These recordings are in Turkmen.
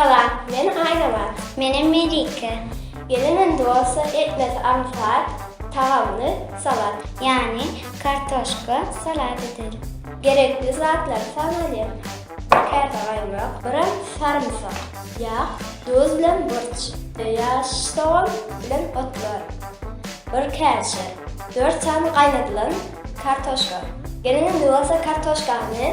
Salam, men Aýnabat. Menem Melike. Gelenem dosa etmesi aňsat, tagamly salat. Ýagny kartoşka salat ederim. Gerekli zatlary sanalyň. Käse gaýmak, gram sarymsak, ýag, duz bilen burç, ýaş sogan bilen otlar, bir käşe, dört sany gaýnadylan kartoşka. Gelenem dosa kartoşkany.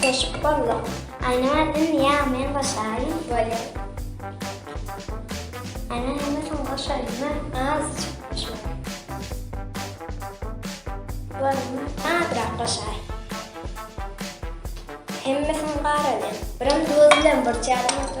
Keşp bolduk. Aýna ädim niýe men başaýyn? Bolýar. Aýna hemmesini goşaýma, azajyk goşma. Bolma, azrak goşaý. Hemmesini garalýan. Birim duz bilen burçýaryn.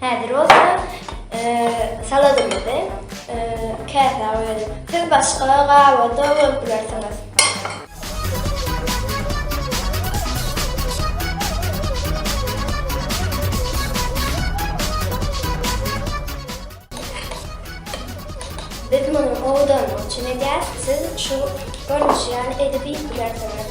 Häzir bolsa saladymyzy käsä goýalyň. Siz başga gaba-da goýup bilersiňiz. Biz muny owadanlyk üçin edýäris, siz şu görnüşi ýaly edip iýip bilersiňiz.